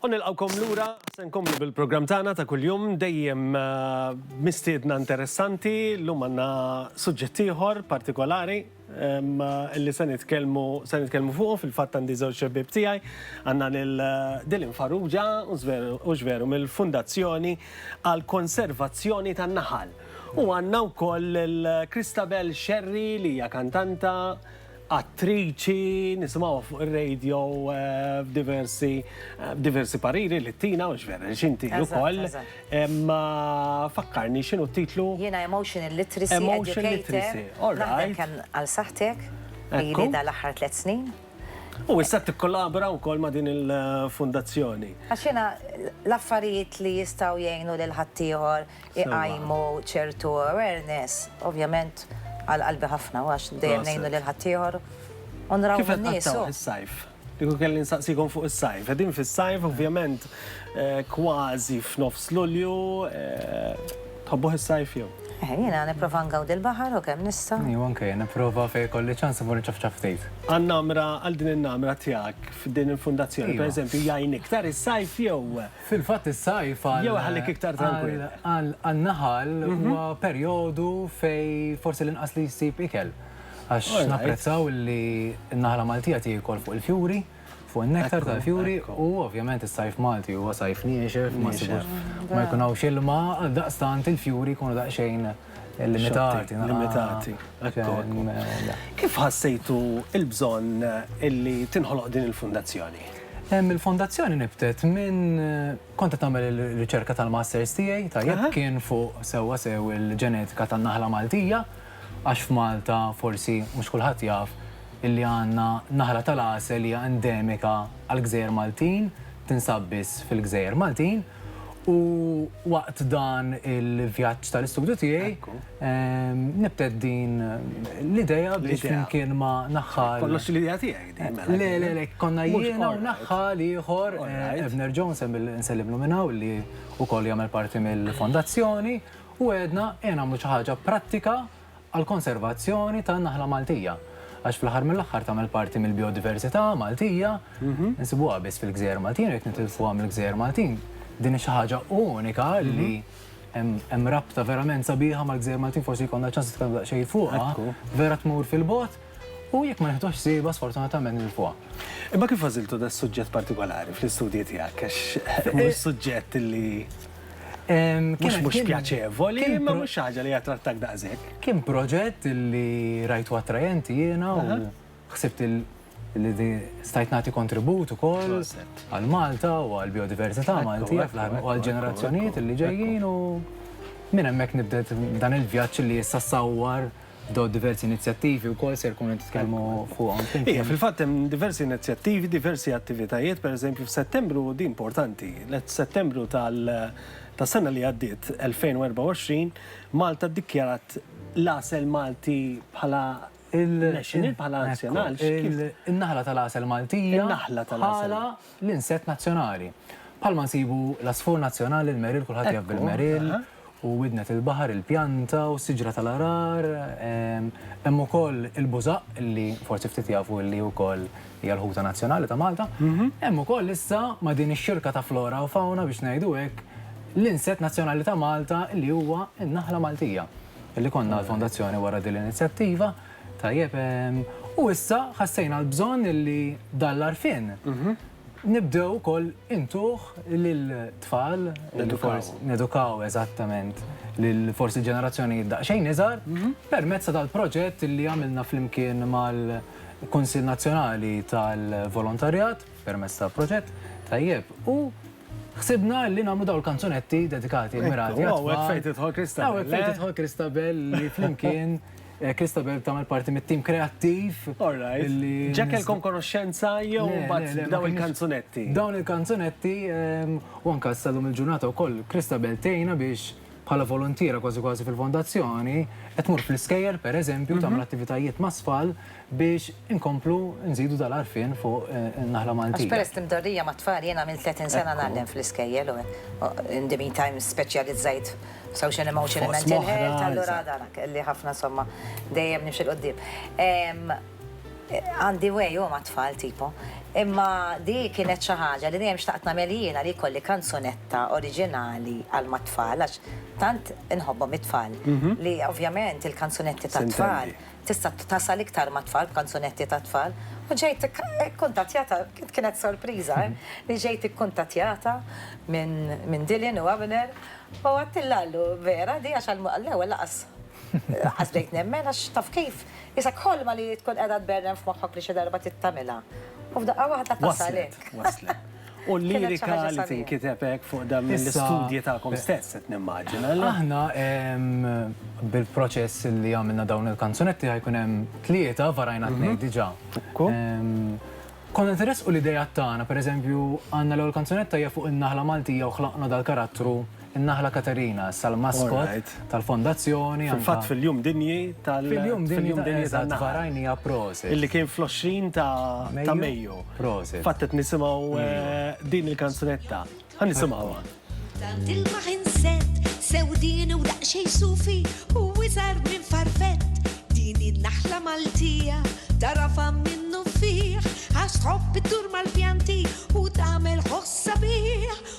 U nilqgħukom lura, se nkomplu bil-programm tagħna ta' kuljum dejjem mistiedna interessanti. Llum għandna suġġett ieħor partikolari li se nitkellmu se nitkellmu fuqu fil-fatt għandi żewġ xebbieb tiegħi. Għandna lil Dylan Farrugia u x'veru mill-Fundazzjoni għal Konservazzjoni tan-Naħal. U għandna wkoll lil Christabel Scerri li hija kantanta, attriċi, nisimgħuha fuq ir-radio f'diversi diversi pariri li tina, mhux vera, għax inti ukoll. Imma fakkarni x'inhu t-titlu? Jiena Emotional Literacy Educator. Naħdem kemm għal saħħtek, ili dan l-aħħar tliet snin. U issa tikkollabora wkoll ma' din il-fundazzjoni. Għax jiena l-affarijiet li jistgħu jgħinu lil ħaddieħor iqajmu ċertu awareness, ovvjament għal qalbi ħafna u għax dejjem ngħinu lil ħaddieħor u nrawh in-nies. Kif qed tgħaddewh is-sajf? Kieku kelli nsaqsikom fuq is-sajf. Qegħdin fis-sajf, ovvjament kważi f'nofs Lulju. Tħobbuh is-sajf jew? Jiena nipprova ngawdi l-baħar u kemm nista'. Iva anke jien, nipprova fejn ikolli ċans immur inċafċaf ftit. Għan-namra, għal din in-namra tiegħek f'din il-fundazzjoni, pereżempju, jgħin iktar is-sajf jew Fil-fatt is-sajf għal. Jew iħallik iktar trankwill. Għan-naħal huwa perjodu fejn forsi l-inqas li jsib ikel. Għax napprezzaw li n-naħla Maltija tiekol fuq il-fjuri, fuq in-nektar tal-fjuri u ovvjament is-sajf Malti huwa sajf niexef, ma jkun hawnx ilma, għaldaqstant il-fjuri jkunu daqsxejn. limitati. Limitati. Kif ħassejtu il-bżonn illi tinħoloq din il-fundazzjoni? Il-fondazzjoni nibtet minn konta tagħmel il-riċerka tal-masters tiegħi, tajjeb kien fuq sewwa sew il-ġenetika tan-naħla Maltija, għax f'Malta forsi mhux kulħadd jaf illi għandna naħla tal-għasel hija endemika għall-gżejjer Maltin, tinsab biss fil-gżejjer Maltin. U waqt dan il-vjaġġ tal-istudju tiegħi nibtet din l-idea biex flimkien ma' naħħal. Kollox l-idea tiegħek din. Le, le, le, konna jiena u naħħal ieħor, Abner Jones, nsellimlu minn hawn li wkoll jagħmel parti mill-fondazzjoni, u għedna ejja nagħmlu xi ħaġa prattika. għall-konservazzjoni tan-naħla Maltija, għax fl-aħħar mill-aħħar tagħmel parti mill-bijodiversità Maltija, insibuha biss fil-gżejjer Maltin, qed nitilfuha mill-gżejjer Maltin. Din hi xi ħaġa unika li hemm rabta verament sabiħa mal-gżejjer Maltin, forsi jkollna ċans nitkellmu daqsxejn fuqha, vera tmur fil-bogħod. u jekk ma nieħduhx siebu sfortunatament nilfuha. Imma kif għażiltu das-suġġett partikolari fl-istudji tiegħek għax mhuwiex suġġett li mhux mhux pjaċevoli, imma mhux xi ħaġa li jattrattak daqshekk. Kien proġett li rajtu attrajenti jiena u ħsibt li stajt nagħti kontribut ukoll għal Malta u għall-bijodiversità Maltija fl-aħħar u għall-ġenerazzjonijiet li ġejjin u minn hemmhekk nibdet dan il-vjaġġ li issa sawwar Dawn diversi inizjattivi wkoll se jkunu qed titkellmu fuqhom flimkien. Iva, fil-fatt hemm diversi inizjattivi, diversi attivitajiet, pereżempju f'Settembru, din importanti, Settembru tas-sena li għaddiet, 2024, Malta ddikjarat l-għasel Malti bħala national, bħala nazzjonali. In-naħla tal-għasel Maltija. In-naħla tal-għasel. l-insett nazzjonali. Bħalma nsibu l-għasfur nazzjonali, l-meril, kulħadd jaf bil-meril, u widnet il-baħar, il-pjanta u s-siġra tal-għarar. Hemm ukoll il-bużaq li forsi ftit jafu li wkoll hija l-ħuta nazzjonali ta' Malta. Hemm ukoll issa ma' din ix-xirka ta' flora u fawna biex ngħidu hekk l-insett nazzjonali ta' Malta li huwa n-naħla Maltija. Li konna l-fondazzjoni wara din l-inizjattiva. Tajjeb, u issa ħassejna l-bżonn li dan l-għarfien nibdew ukoll intuh lill-tfal, nedukaw eżattament lil forsi ġenerazzjonijiet daqsxejn iżgħar permezz ta' dal-proġett li għamilna flimkien mal-Kunsill Nazzjonali tal-Volontarjat permezz ta' proġett, tajjeb, u ħsibna li nagħmlu dawn il-kanzunetti dedikati u mmirati għat-tfal. Hawn hekk fejn tidħol Christabel. Hawn hekk fejn tidħol Christabel li flimkien. Christabel tagħmel parti mit-tim kreattiv. All right. Ġa kellkom konoxxenza jew mbagħad dawn il-kanzunetti? Dawn il-kanzunetti u anke sa lum il-ġurnata wkoll Christabel tgħinna biex bħala voluntiera kważi kważi fil-fondazzjoni qed tmur fl-iskejjel pereżempju tagħmel attivitajiet mas-sfal biex inkomplu nżidu dal-għarfien fuq in-naħla Maltija. Għax peress li mdorrija mat-tfal, jien għamilt 30 sena ngħallem fl-iskejjel u in the meantime speċjalizzajt f'social emotional u mental health, allura għadha kelli ħafna insomma dejjem nimxi 'l quddiem. Għandi way u mat-tfal tipo. Imma di kienet xi ħaġa li dejjem xtaqt nagħmel jiena li jkolli kanzunetta oriġinali għal mat-tfal għax tant inħobbhom it-tfal li ovvjament il-kanzunetti tat-tfal. tista' tasal iktar mat-tfal b'kanzunetti tat-tfal u ġejt ikkuntattjata, kienet sorpriża, li ġejt ikkuntattjata minn Dylan u Abner u għedtilha għallu vera di għax għall-ewwel lanqas lanqas bdejt nemmen għax taf kif, isek ħolma li tkun qiegħda tberren f'moħħok li xi darba trid tagħmilha u f'daqqa waħda tasal hekk. Waslet, waslet. U l-lirika li tinkiteb hekk fuq dan mill-istudji tagħkom stess qed nimmaġina. Aħna bil-proċess li għamilna dawn il-kanzunetti ħajkun hemm tlieta varajna tnejn diġà. Konna qed iressqu l-ideat tagħna, pereżempju għandna l-ewwel kanzunetta hija fuq in-naħla Maltija u ħlaqna dal-karattru. in-Naħla Katerina, issa l-maskot tal-Fondazzjoni. Fil-fatt fil-Jum Dinji tal-. Fil-Jum Dinji tal-Naħal. Illi kien fl-20 ta' Mejju. Prosit. Fatt qed nisimgħu din il-kanzunetta. Ħa nisimgħuha. Tant ilma ħinset, sewdien u daqsxejn sufi u iżgħar minn farfett. Din hi n-naħla Maltija, tagħrafha minnufih, għax tħobb iddur mal-pjanti u tagħmel ħoss sabiħ.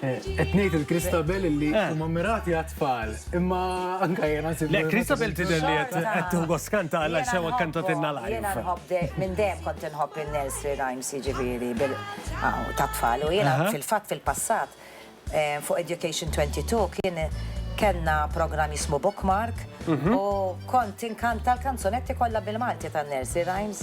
Qed ngħid il-Kristabel illi Eh. huma mirati għat-tfal, imma anke jiena nsib. Le, Kristabel tidher li qed qed tieħu gost kanta għal Jiena sewa nħobbhom, kantatinna Jiena live. nħobb de- minn dejjem kont inħobb in-nursery rhymes jiġifieri bil aw, tat-tfal. U jiena Aha. fil-fatt fil-passat eh, fuq Education 22 kien kellna programm jismu Bookmark Mhm. u kont inkanta l-kanzunetti kollha bil-Malti tan-nursery rhymes.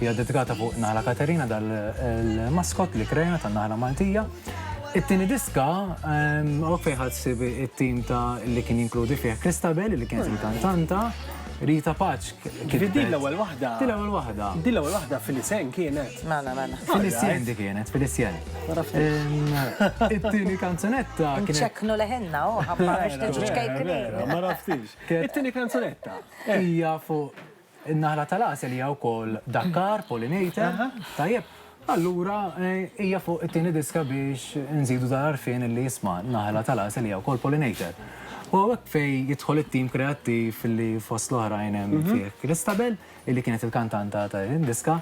Hija ddedikata fuq Naħla Katerina dal-maskot li krejna tan-Naħla Maltija. It-tieni diska hawnhekk fejn ħadd sib it-tim ta' li kien jinkludi fih Christabel li kienet il-kantanta, Rita Paċ kif Din l-ewwel waħda. Din l-ewwel waħda. Din l-ewwel waħda Filisen kienet. Mela, mela. Filisen di kienet, Filisen. It-tieni kanzunetta kienet. Inċekknu leħinna, oh, ħabba biex niġu ċkejknin. Ma raftix. It-tieni kanzunetta. Hija fuq In-naħla tal-għasel hija wkoll dakkar, pollinator, tajjeb? Allura hija fuq it-tieni diska biex inżidu dal-għarfien li isma' n-naħla tal-għasel hija wkoll pollinator. U hawnhekk fejn jidħol it-tim kreattiv li fost l-oħrajn hemm fih Christabel, illi kienet il-kantanta ta' din id-diska.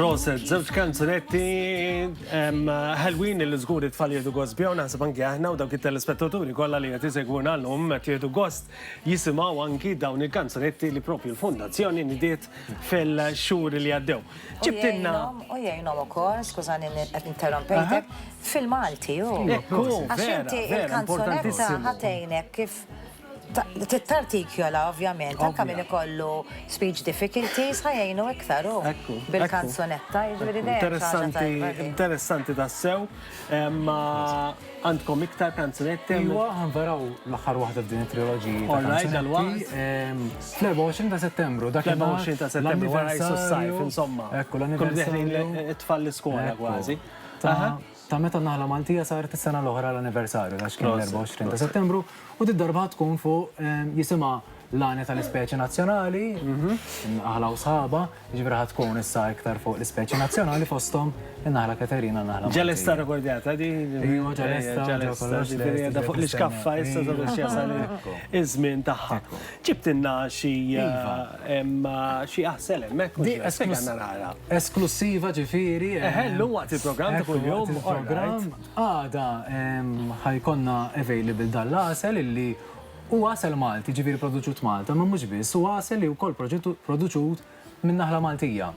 Proset, zewġ kanzunetti ħelwin li żgur it-tfal jieħdu gost bihom naħseb anki aħna u dawk it-telespettaturi kollha li qed isegwuna llum qed jieħdu gost jisimgħu anki dawn il-kanzunetti li propju l-Fondazzjoni nidiet fil-xhur li għaddew. Ġibtilna. U jgħinhom ukoll, skużani qed interrompejtek, fil-Malti hu. Għax inti il-kanzunetta ħatejnek kif Tittartikjola, ovvjament, anka minn ikollu speech difficulties, ħajajnu iktar u bil-kanzunetta, jiġri Interessanti, interessanti tassew. Ma għandkom iktar kanzunetti? Iwa, għanveraw l-axar wahda f'din il-trilogi. Alright, dal-waqt. Fl-24 ta' settembru, dak il-24 ta' settembru, għara jissu s-sajf, insomma. Ekku, l-anniversarju. Tfal l-skola, għazi. Ta' meta naħla Maltija saret is-sena l-oħra l-anniversarju, għax kien l-24 ta' settembru, u d-darba tkun fuq jisima L-għanja tal-ispeċi nazzjonali, in-naħla u sħabha, jiġifieri ħa tkun issa iktar fuq l-ispeċi nazzjonali fosthom in-naħla Katerina, in-naħla Maltija. Ġelesta rekordjata di? Ejwa, ġelesta, ġew kollox lest. Qiegħda fuq l-iskaffa issa sabiex jasal iż-żmien tagħha. Ġibtilna xi xi għasel hemmhekk mhux hekk? Spjegana naqra. Esklussiva ġifieri. Eħe, llum waqt il-programm ta' kuljum. Għada ħa jkollna available dan l-għasel illi Hu għasel Malti, jiġifieri produċut Malta, imma mhux biss, hu għasel li wkoll produċut minn naħla Maltija.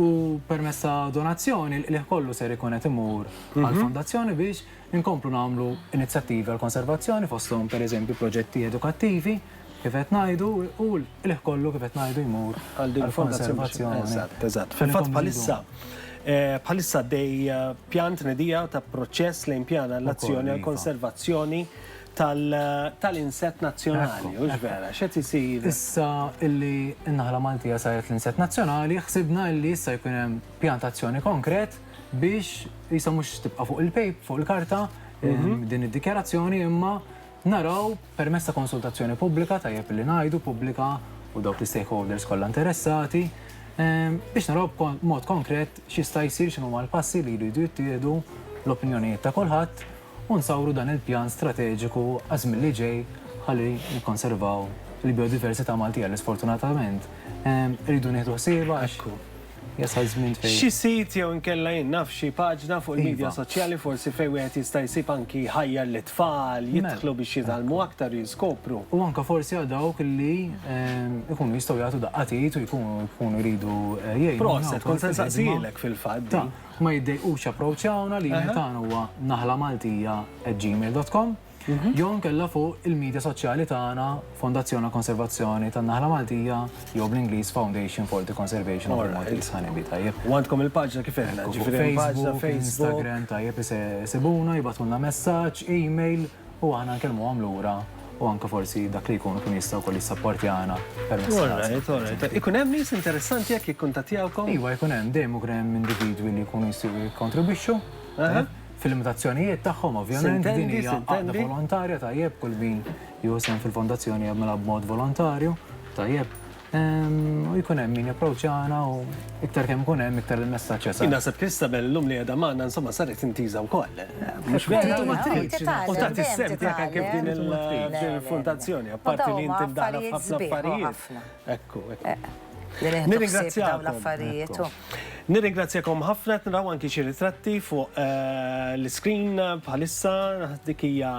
U permezz ta' donazzjoni l-qligħ kollu ser ikun qed imur għall-Fondazzjoni biex inkomplu nagħmlu inizjattivi għall-konservazzjoni fosthom pereżempju proġetti edukattivi kif qed ngħidu u l-qligħ kollu kif qed ngħidu jmur għall-konservazzjoni. Eżatt, eżatt. Fil-fatt bħalissa bħalissa għaddej pjan tnedija ta' proċess lejn pjan għall-azzjoni għall-konservazzjoni tal-insett nazzjonali, hux vera? X'qed isir? Issa illi n-naħla Maltija saret l-insett nazzjonali, ħsibna illi issa jkun hemm pjan ta' azzjoni konkret biex qisha mhux tibqa' fuq il-pejp, fuq il-karta, din id-dikjarazzjoni imma naraw permezz ta' konsultazzjoni pubblika, tajjeb illi ngħidu pubblika u dawk l-istakeholders kollha interessati, biex naraw b'mod konkret x'jista' jsir, x'inhuma l-passi li jridu jittieħdu, l-opinjonijiet ta' kulħadd u nsawru dan il-pjan strateġiku għaż-żmien li ġej ħalli nikkonservaw il-biodiversità Maltija li sfortunatament irridu nieħdu ħsiebha għax jasal żmien fejn. Xi sit jew inkella jien naf xi paġna fuq il-midja soċjali forsi fejn wieħed jista' jsib anki jħajjar lit-tfal jidħlu biex jitgħallmu aktar u jiskopru. U anke forsi għal dawk li jkunu jistgħu jagħtu daqqa t'id u jkunu jridu jgħinu. Proset, kont se nsaqsihilek fil-fatt din. Ma jiddejqux japproċċawna, l-email tagħna huwa naħlamaltija@gmail.com jew inkella fuq il-midja soċjali tagħna Fondazzjon għall-Konservazzjoni tan-Naħla Maltija jew bl-Ingliż Foundation for the Conservation of the Maltese Honeybee, tajjeb. U għandkom il-paġna kif għedna, ġifieri hemm paġna Facebook. Instagram, tajjeb, isibuna, jibgħatulna messaġġ, email. u aħna nkellmuhom lura u anke forsi dak li jkun ikun jista' wkoll jissapportjana permezz ta' All right, all right. Ikun hemm nies interessanti hekk jikkuntattjawkom? Iva, jkun hemm, dejjem ikun hemm individwi li jkunu jistgħu jikkontribwixxu, fil-limitazzjonijiet tagħhom ovvjament, din hija għaqda volontarja, tajjeb, kull min jieħu sehem fil-fondazzjoni jagħmilha b'mod volontarju, tajjeb. U jkun hemm min japproċċana u iktar kemm ikun hemm iktar il-messaġġ jasal. Naħseb Kristabel llum li qiegħda magħna insomma saret intiża wkoll. Mhux vera ma tridx. U ta' tissem tiegħek anke f'din il-fondazzjoni, apparti li inti mdaħla f'ħafna affarijiet. Ekku, ekku. Nirringrazzjakom. Nirringrazzjakom ħafna qed naraw anke xi ritratti fuq l-iskrin bħalissa dik hija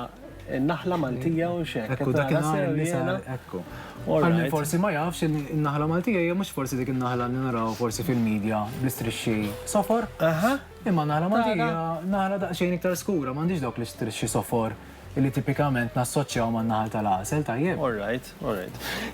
In-naħla Maltija u x'hekk. Ekku dakinhar in-nisa ekku. Għal min forsi ma jafx in-naħla Maltija hija mhux forsi dik in-naħla li naraw forsi fil-medja bl-istrixxi sofor. Aha. Imma naħla Maltija naħla daqsxejn iktar skura, m'għandix dawk l-istrixxi sofor li tipikament nassoċjaw man-naħal tal-għasel, tajjeb? All right.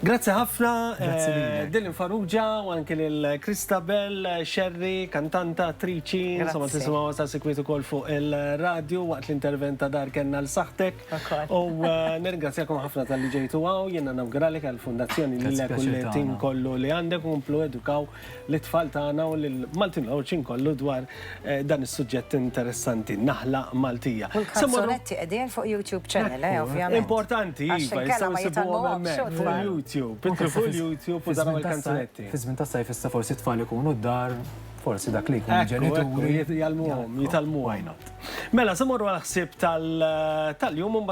Grazzi ħafna lil Dylan Farrugia u anke lil Christabel Scerri, kantanta, attriċi, insomma tisimgħuha sa sikwit ukoll fuq ir-radju waqt l-intervent ta' Dar Kellna 'l Saħħtek. U nirringrazzjakom ħafna talli ġejtu hawn, jiena nawguralek għall-Fundazzjoni lilek u lit-tim kollu li għandek u komplu edukaw lit-tfal tagħna u lill-Maltin Għawdxin kollu dwar dan is-suġġett interessanti, naħla Maltija. U l-kanzunetti qegħdin fuq YouTube Channel, eh, ovvjament. Importanti, iva, jistgħu jsibuhom hemmhekk fuq YouTube. Idħlu fuq il-YouTube u taraw il-kanzunetti. Fiż-żmien tas-sajf issa forsi t-tfal ikunu d-dar, forsi dak li jkun il-ġenituri jgħallmuhom, jitgħallmuhom. Mela, se mmorru għall-ħsieb tal-jum.